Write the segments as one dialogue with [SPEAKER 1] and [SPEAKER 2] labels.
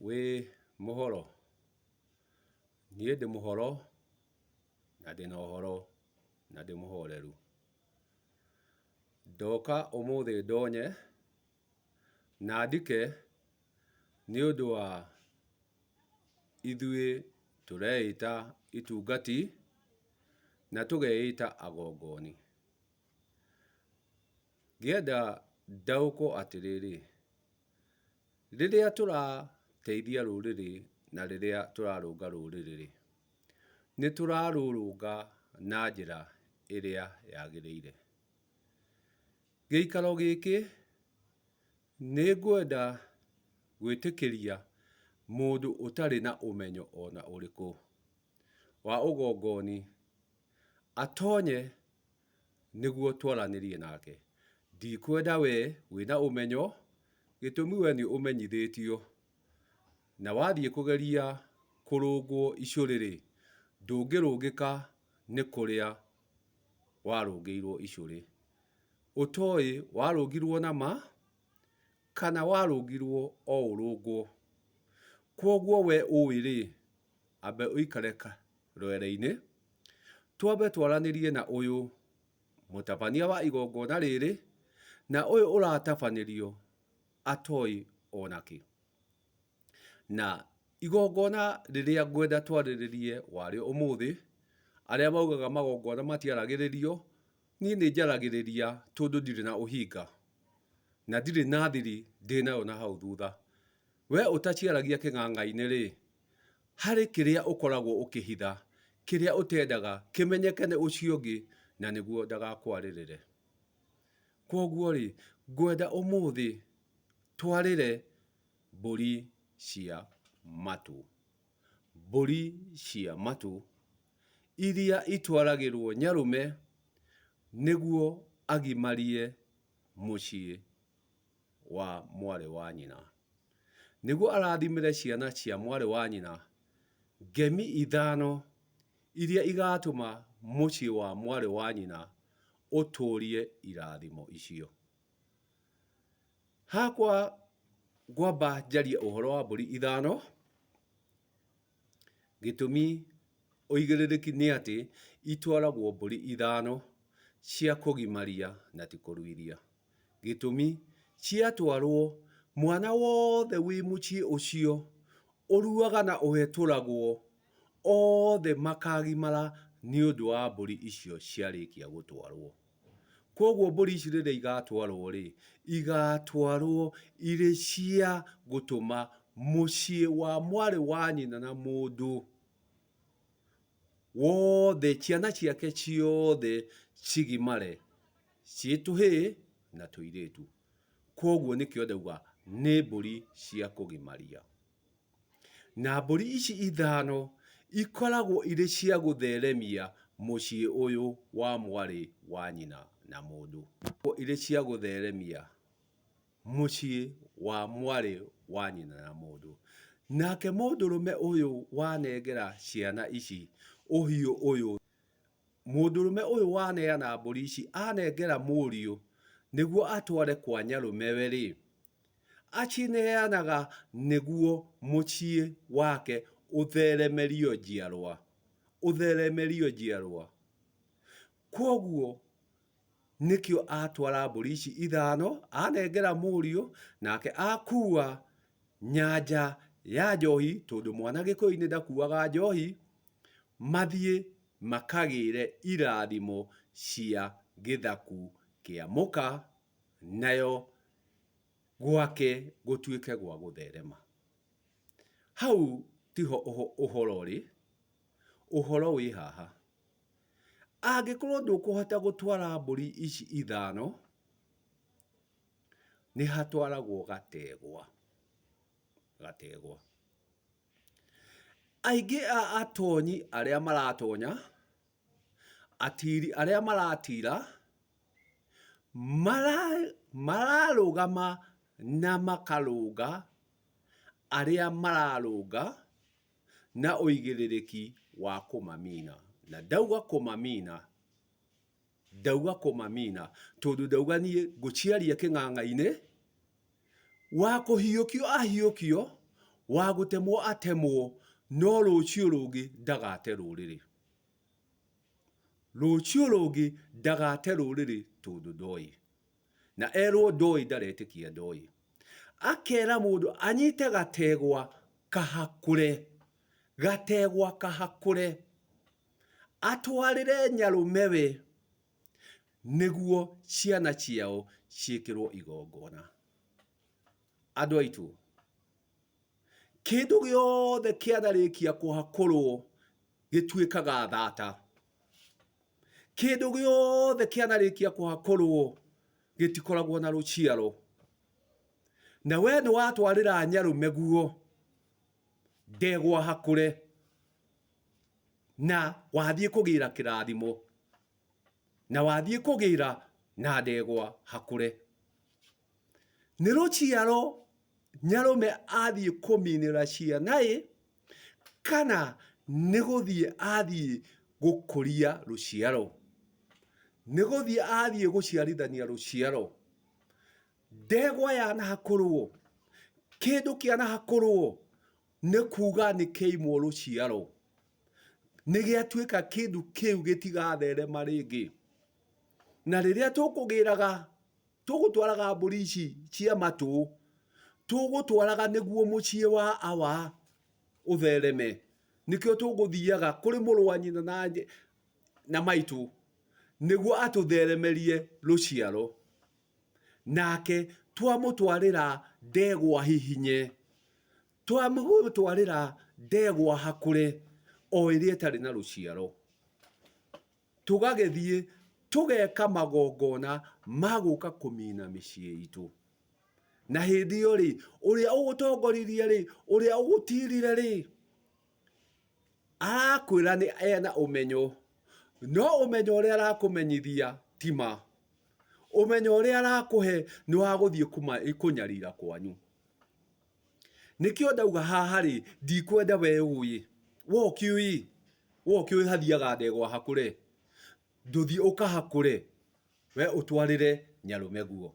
[SPEAKER 1] Wĩ mũhoro? Niĩ ndĩ mũhoro na ndĩ na ũhoro na ndĩ mũhoreru. Ndoka ũmũthĩ ndonye na ndike nĩ ũndũ wa ithuĩ tũreĩta itungati na tũgeĩta agongoni. Ngĩenda ndaũkwo atĩrĩrĩ. Rĩrĩa tũrateithia rũrĩrĩ na rĩrĩa tũrarũnga rũrĩrĩ rĩ, nĩ tũrarũrũnga na njĩra ĩrĩa yagĩrĩire. Gĩikaro gĩkĩ nĩ ngwenda gwĩtĩkĩria mũndũ ũtarĩ na ũmenyo ona ũrĩkũ wa ũgongoni atonye. nĩguo twaranĩrie nake. Ndikwenda wee wĩ na ũmenyo, gĩtũmi wee nĩ ũmenyithĩtio, na wathiĩ kũgeria kũrũngwo icũrĩ-rĩ, ndũngĩrũngĩka nĩ kũrĩa warũngĩirwo icũrĩ. Ũtoĩ warũngirwo na ma, kana warũngirwo o ũrũngwo. Kwoguo wee ũĩ-rĩ, ambe ũikare rwere-inĩ, twambe twaranĩrie na ũyũ mũtabania wa igongona rĩrĩ, na ũyũ ũratabanĩrio atoĩ ona kĩ. Na igongona rĩrĩa ngwenda twarĩrĩrie warĩo ũmũthĩ, arĩa maugaga magongona matiaragĩrĩrio, niĩ nĩ njaragĩrĩria tondũ ndirĩ na ũhinga, na ndirĩ na thiri ndĩnayo na hau thutha. We ũtaciaragia kĩng'ang'a-inĩ rĩ, harĩ kĩrĩa ũkoragwo ũkĩhitha, kĩrĩa ũtendaga kĩmenyeke nĩ ũcio ũngĩ, na nĩguo ndagakwarĩrĩre. Kwoguo-rĩ, ngwenda ũmũthĩ twarĩre mbũri cia matũ. Mbũri cia matũ iria itwaragĩrwo nyarũme nĩguo agimarie mũciĩ. wa mwarĩ wa nyina. Nĩguo arathimĩre ciana cia mwarĩ wa nyina ngemi ithano iria igatũma mũciĩ wa mwarĩ wa nyina ũtũũrie irathimo icio. Hakwa ngwamba njarie ũhoro wa mbũri ithano. Gĩtũmi ũigĩrĩrĩki nĩ atĩ itwaragwo mbũri ithano cia kũgimaria na ti kũruithia. Gĩtũmi ciatwarwo mwana wothe wĩ mũciĩ ũcio ũruaga na ũhetũragwo othe makagimara nĩ ũndũ wa mbũri icio ciarĩkia gũtwarwo. Koguo mbũri ici rĩrĩa igatwarwo-rĩ, igatwarwo irĩ cia gũtũma mũciĩ wa mwarĩ wa nyina na mũndũ wothe, ciana ciake ciothe cigimare, ciĩ tũhĩ na tũirĩtu. Koguo nĩkĩo ndauga nĩ mbũri cia kũgimaria. Na mbũri ici ithano ikoragwo irĩ cia gũtheremia mũciĩ ũyũ wa mwarĩ wa nyina na mũndũ. Irĩ cia gũtheremia mũciĩ wa mwarĩ wa nyina na mũndũ. Nake mũndũrũme ũyũ wanengera ciana ici ũhiũ ũyũ, mũndũrũme ũyũ waneana mbũri ici anengera mũriũ nĩguo atware kwa nyarũmewe-rĩ, Acineanaga nĩguo mũciĩ wake ũtheremerio njiarwa, ũtheremerio njiarwa. Kwoguo nĩkĩo atwara mbũri ici ithano, anengera mũriũ, nake akua nyanja ya njohi, tondũ mwana Gĩkũyũ-inĩ ndakuaga njohi, mathiĩ makagĩre irathimo cia gĩthaku kĩa mũka. nayo gwake gũtuĩke gwa gũtherema. Hau tiho ũhoro ũrĩ, ũhoro wĩ haha. Angĩkorwo ndũkũhota gũtwara mbũri ici ithano, nĩ hatwaragwo gategwa, gategwa. Aingĩ a atonyi arĩa maratonya... Atiri arĩa maratira mararũgama na makarũnga arĩa mararũnga na ũigĩrĩrĩki wa kũmamina. Na ndauga kũmamina, ndauga kũmamina tondũ ndauga niĩ ngũciaria kĩng'ang'a-inĩ, wa kũhiũkio ahiũkio, wa gũtemwo atemwo, no rũciũ rũngĩ ndagate rũrĩrĩ. Rũciũ rũngĩ ndagate rũrĩrĩ tondũ ndoĩ. Na erwo ndoĩ ndaretĩkia ndoĩ. Akera mũndũ anyite gategwa kahakũre, gategwa kahakũre, atwarĩre nyarũmewe nĩguo ciana ciao ciĩkĩrwo igongona. Andũ aitũ. Kĩndũ gĩothe kĩatharĩkia kũhakũrwo gĩtuĩkaga thata. Kĩndũ gĩothe kĩanarĩkia kũhakũrwo gĩtikoragwo na rũciaro. Na we nĩ watwarĩra nyarũme guo ndegwa hakũre na wathiĩ kũgĩra kĩrathimo na wathiĩ kũgĩra na ndegwa hakũre. Nĩ rũciaro nyarũme athiĩ kũminĩra cianaĩ kana nĩ gũthiĩ athiĩ gũkũria rũciaro? Nĩ gũthiĩ athiĩ gũciarithania rũciaro? Ndegwa yanahakũrwo, kĩndũ kĩanahakũrwo nĩ kuga nĩ kĩaimwo rũciaro, nĩ gĩatuĩka kĩndũ kĩu gĩtigatherema rĩngĩ. Na rĩrĩa tũkũgĩraga tũgũtwaraga mbũri ici cia matũ, tũgũtwaraga nĩguo mũciĩ wa awa ũthereme, nĩkĩo tũgũthiaga kũrĩ mũrũ wa nyina na nyĩ na maitũ, nĩguo atũtheremerie rũciaro, nake twamũtwarĩra ndegwa hihinye, twamũgũtwarĩra ndegwa hakũre, o ĩrĩa ĩtarĩ na rũciaro. Tũgagĩthiĩ tũgeka magongona ma gũka kũmina mĩciĩ itũ. Na hĩndĩ ĩyo rĩ, ũrĩa ũgũtongoririe rĩ, ũrĩa ũgũtirire rĩ, arakwĩra nĩ ena ũmenyo, no ũmenyo ũrĩa arakũmenyithia ti ma. Ũmenyo ũrĩa arakũhe nĩ wa gũthiĩ kũnyarira kwanyu. Nĩkĩo ndauga haha rĩ, ndikwenda we ũĩ. We ũkĩũĩ, we ũkĩũĩ hathiaga ndegwa hakũre. Ndũthiĩ ũkahakũre, we ũtwarĩre nyarũme guo.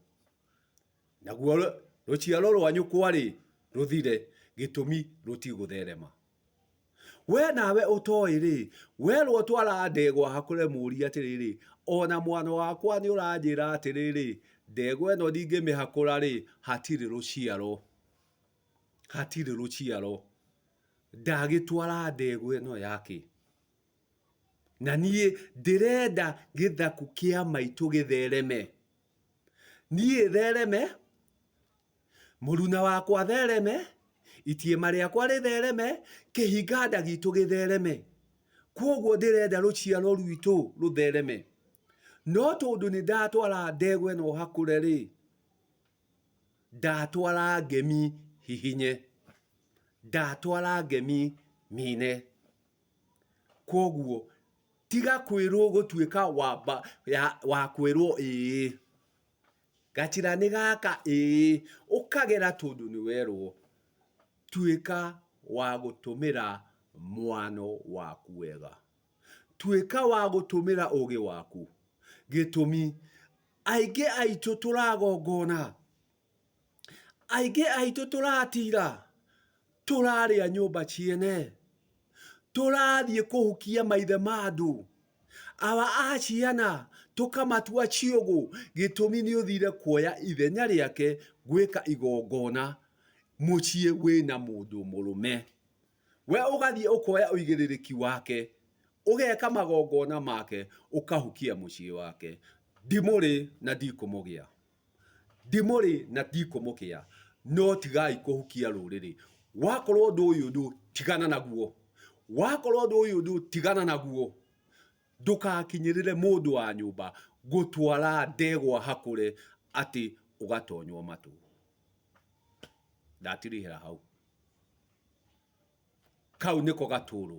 [SPEAKER 1] Naguo rũciaro rwa nyũkwa rĩ, rũthire, gĩtũmi rũtigũtherema. We nawe ũtoĩ-rĩ, werwo twara ndegwa hakũre mũũrie atĩrĩrĩ, ona mwana wakwa nĩ ũranjĩra atĩrĩrĩ, ndegwa ĩno ndingĩmĩhakũra-rĩ, hatirĩ rũciaro. Hatirĩ rũciaro. Ndagĩtwara ndegwa ĩno yake. Na niĩ ndĩrenda gĩthaku kĩa maitũ gĩthereme. Niĩ thereme, Mũruna wakwa thereme, itiĩma rĩakwa rĩthereme, kĩhinganda gitũ gĩthereme. Kwoguo ndĩrenda rũciaro rwitũ rũthereme. No tondũ nĩ ndatwara ndegwa ĩno hakũre rĩ, ndatwara ngemi hihinye, ndatwara ngemi mine. Kwoguo tiga kwĩrwo gũtuĩka wa kwĩrwo ĩĩ. Gatira nĩ gaka ĩĩ. Ũkagera tondũ nĩ werwo. Tuĩka wa gũtũmĩra mwano waku wega. Tuĩka wa gũtũmĩra ũgĩ waku. Gĩtũmi, aingĩ aitũ tũragongona, aingĩ aitũ tũratira, tũrarĩa nyũmba ciene. tũrathiĩ kũhukia maithe ma andũ awa a ciana tũkamatua ciũgũ gĩtũmi nĩ ũthire kuoya ithenya rĩake gwĩka igongona mũciĩ wĩna mũndũ mũrũme we ũgathiĩ ũkoya ũigĩrĩrĩki wake ũgeka magongona make ũkahukia mũciĩ wake ndimũrĩ na ndikũmũgĩa. Ndimũrĩ na ndikũmũkĩa, no tigai kũhukia rũrĩrĩ. Wakorwo ũndũ ũyũ ndũ, tigana naguo. Wakorwo ũndũ ũyũ ndũ, tigana naguo. Ndũkakinyĩrĩre mũndũ wa nyũmba gũtwara ndegwa hakũre atĩ ũgatonywo matũ. Ndatirihĩra hau. Kau nĩko gatũrũ.